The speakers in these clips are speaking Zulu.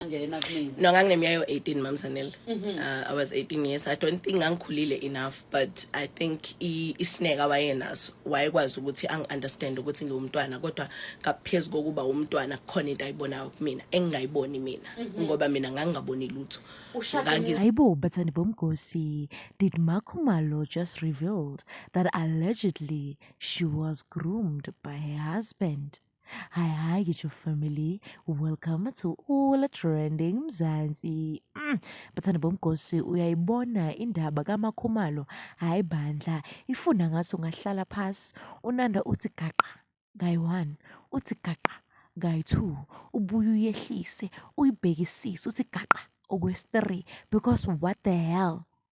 ngena kumina no ngangineminyaka yo-18 mam sanele mhm. uh, i was 18 years i don't think ngangikhulile enough but i think isineka wayenaso wayekwazi ukuthi angi-understand ukuthi ngiwumntwana kodwa ngaphezu kokuba wumntwana kukhona into ayibonayo kumina engingayiboni mina mhm. ngoba mina ngangingaboni lutho ayibo bathandi bomgosi did makhumalo just revealed that allegedly she was groomed by her husband Hi, hi, your family. Welcome to All Trending Mzansi. Mm. Bathanda bomgosi uyayibona indaba kamakhumalo. Hayi bandla, ifuna ngaso ngahlala phasi. Unanda uthi gaqa guy 1, uthi gaqa guy 2, ubuye uyehlise, uyibhekisise uthi gaqa okwesi 3 because what the hell?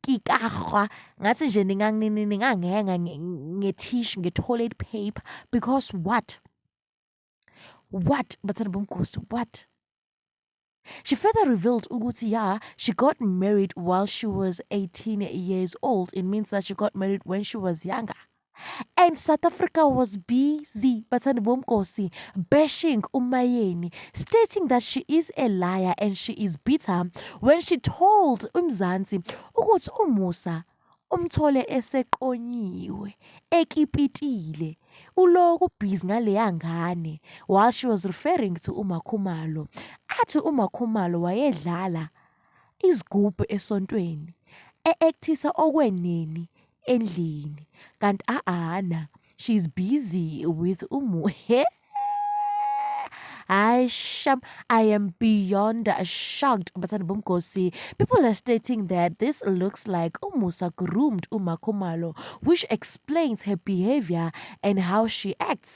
kikahwa ngathi nje ninganginenga ngethishu nge-toilet paper because what what bathanda bomgosi what She further revealed ukuthi yeah, she got married while she was 18 years old. It means that she got married when she was younger. And South Africa was busy, Batsani Bomkosi, bashing Umayeni, stating that she is a liar and she is bitter when she told Umzansi ukuthi umusa umthole eseqonyiwe ekipitile uloku busy ngaleya ngane while she was referring to umakhumalo athi umakhumalo wayedlala izigubhu esontweni e actisa okweneni endlini kanti aana she's busy with umu he Hayi sham, I am beyond shocked bathandi bomgosi. People are stating that this looks like uMusa groomed uMaKhumalo which explains her behavior and how she acts.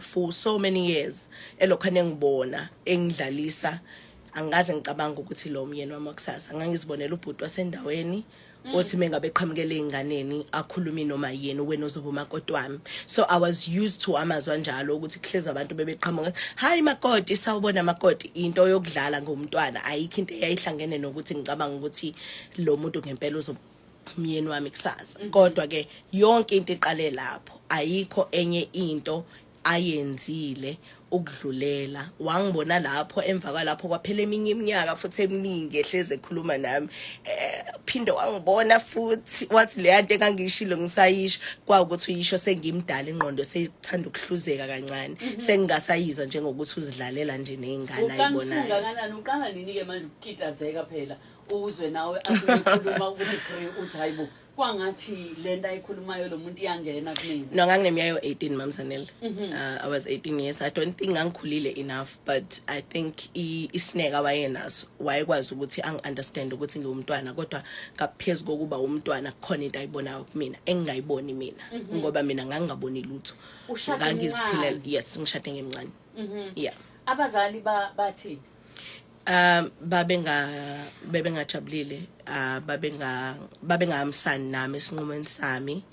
for so many years elokhu anengibona engidlalisa angikaze ngicabanga ukuthi lo myeni wami wakusasa ngangizibonela ubhuti wasendaweni mm. othi mengabe qhamukele inganeni akhulumi noma yini wena uzoba umakoti wami so i was used to amazwa njalo ukuthi kuhleza abantu bebeqhamuka hayi makoti sawubona makoti into yokudlala ngomntwana ayikho into eyayihlangene nokuthi ngicabanga ukuthi lo muntu ngempela uzoba umyeni wami kusasa mhm. kodwa ke yonke into iqale lapho ayikho enye into ayenzile ukudlulela wangibona lapho emva kwalapho kwaphela eminye iminyaka futhi eminingi ehleze ekhuluma nami eh, phinde wangibona futhi wathi leya nto engangiyishilo ngisayisho kwawukuthi uyisho sengimdala ingqondo seyithanda ukuhluzeka kancane mhm. sengingasayizwa njengokuthi uzidlalela nje nezingane ayibona uqala nini ke manje ukukitazeka phela uzwe nawe asikhuluma ukuthi kri uthi hayibo kwangathi le nto ayikhulumayo lo muntu iyangena kumina no ngangineminyaka yo-18 mamsanel mm -hmm. uh, i was 18 years i don't think ngangikhulile enough but i think isineka wayenaso wayekwazi ukuthi angi-understand ukuthi ngiwumntwana kodwa ngaphezu kokuba wumntwana kukhona into ayibonayo kumina engingayiboni mina mm -hmm. ngoba mina ngangingaboni lutho ngangiziphilela yes ngishade ngemncane mm -hmm. yeah abazali bathini ba um babenga bebengajabulile uh, babenga babengahambisani nami esinqumweni sami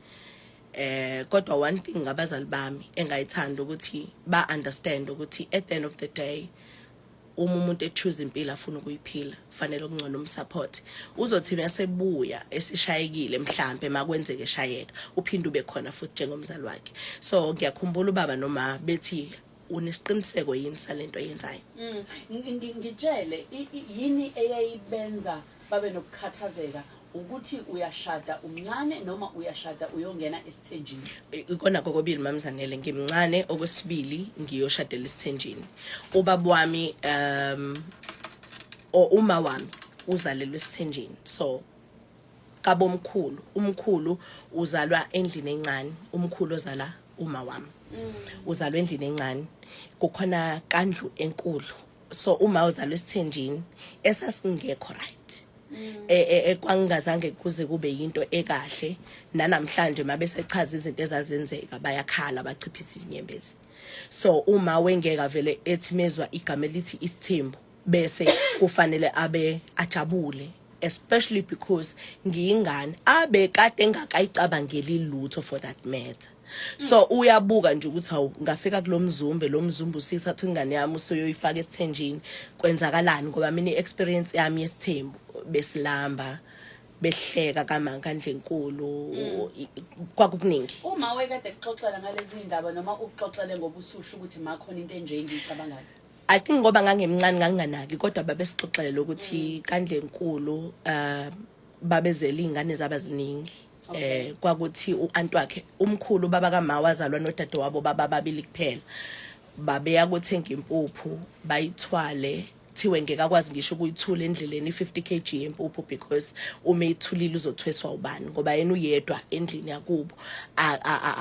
eh kodwa one thing ngabazali bami engayithanda ukuthi ba understand ukuthi at the end of the day uma umuntu echoose impilo afuna ukuyiphila kufanele okungcono umsupport uzothi masebuya esishayekile mhlambe makwenzeke shayeka uphinde ube khona futhi njengomzali wakhe so ngiyakhumbula ubaba noma bethi unesiqiniseko yini salento yenzayo mm. ngitshele yini eyayibenza babe nokukhathazeka ukuthi uyashada umncane noma uyashada uyongena esithenjini ikona kokobili mamzanele ngimncane okwesibili ngiyoshadela isithenjini ubaba wami um or uma wami uzalelwe esithenjini so kabomkhulu umkhulu uzalwa endlini encane umkhulu ozala uma wami mm. uzalwe endlini encane kukhona kandlu enkulu so uma uzalwe esithenjini esasingekho right mm. e, e, e, kwangingazange kuze kube yinto ekahle nanamhlanje mabesechaza izinto ezazenzeka bayakhala bachiphisa izinyembezi so uma wengeka vele ethi mezwa igama elithi isithembu bese kufanele abe ajabule especially because ngiyingane abe kade engakayicabangeli lutho for that matter so uyabuka nje ukuthi hawu ngafika kulomzumbe lomzumbe usisa athi ingane yami usoyoyifaka esithenjini kwenzakalani ngoba mina iexperience yami yesithembu besilamba behleka kamanga ndlenkulu mm. kwakukuningi uma wekade kuxoxela ngalezi ndaba noma ukuxoxele ngobusushu ukuthi makhona into enje engiyicabangayo I think ngoba ngangimncane nganginganaki kodwa babesixoxela ukuthi kandlenkulu uh babezela izingane zabaziningi eh kwakuthi uanti wakhe umkhulu baba kama wazalwa nodade wabo baba babili kuphela babeya kothenga impuphu bayithwale kuthiwe ngeke akwazi ngisho ukuyithula endleleni i-50 kg yempuphu because uma ithulile uzothweswa ubani ngoba yena uyedwa endlini yakubo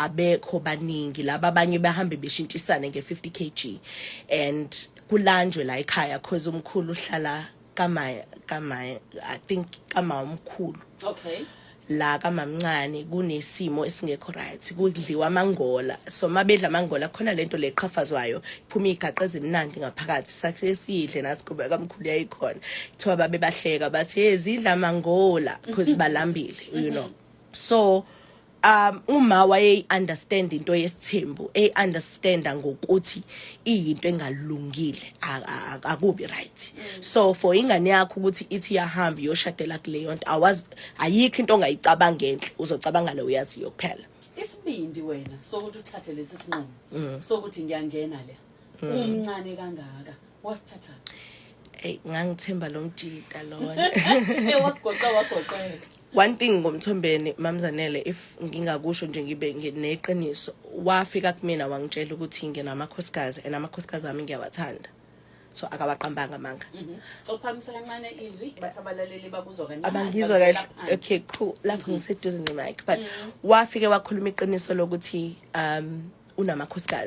abekho baningi laba abanye bahambe beshintshisane nge-50 kg and kulanjwe la ekhaya cause umkhulu uhlala kamaya kamaya i think kamama omkhulu okay la kamamncane kunesimo esingekho right kudliwa amangola so mabedla amangola khona lento leqhafazwayo iphuma igaqa ezimnandi ngaphakathi sakhe sidle nasikube kamkhulu yayikhona kuthiwa babe bahleka bathi ezidla amangola because balambile you know so um uma wayeyi understand into yesithembu ey understand ngokuthi iyinto engalungile akubi right so for ingane yakho ukuthi ithi yahamba yoshadela kuleyo nto awazi ayikho into ongayicabanga enhle uzocabanga le uyaziyo kuphela isibindi wena sokuthi uthathe lesi sinqumo mm. sokuthi ngiyangena le mm. umncane kangaka wasithatha eyi ngangithemba lo mjita lona wakugoqa wagoqela one thing ngomthombeni mamzanele if ngingakusho nje ngibe neqiniso wafika kumina wangitshela ukuthi nginamakhosikazi and amakhosikazi ami ngiyawathanda so akawaqambanga amanga mhm. ophamisa kancane izwi bathi abalaleli bakuzwa kancane abangizwa kahle okay cool lapho mhm. ngiseduze nemic but mhm. wafike wakhuluma iqiniso lokuthi um unamakhosikazi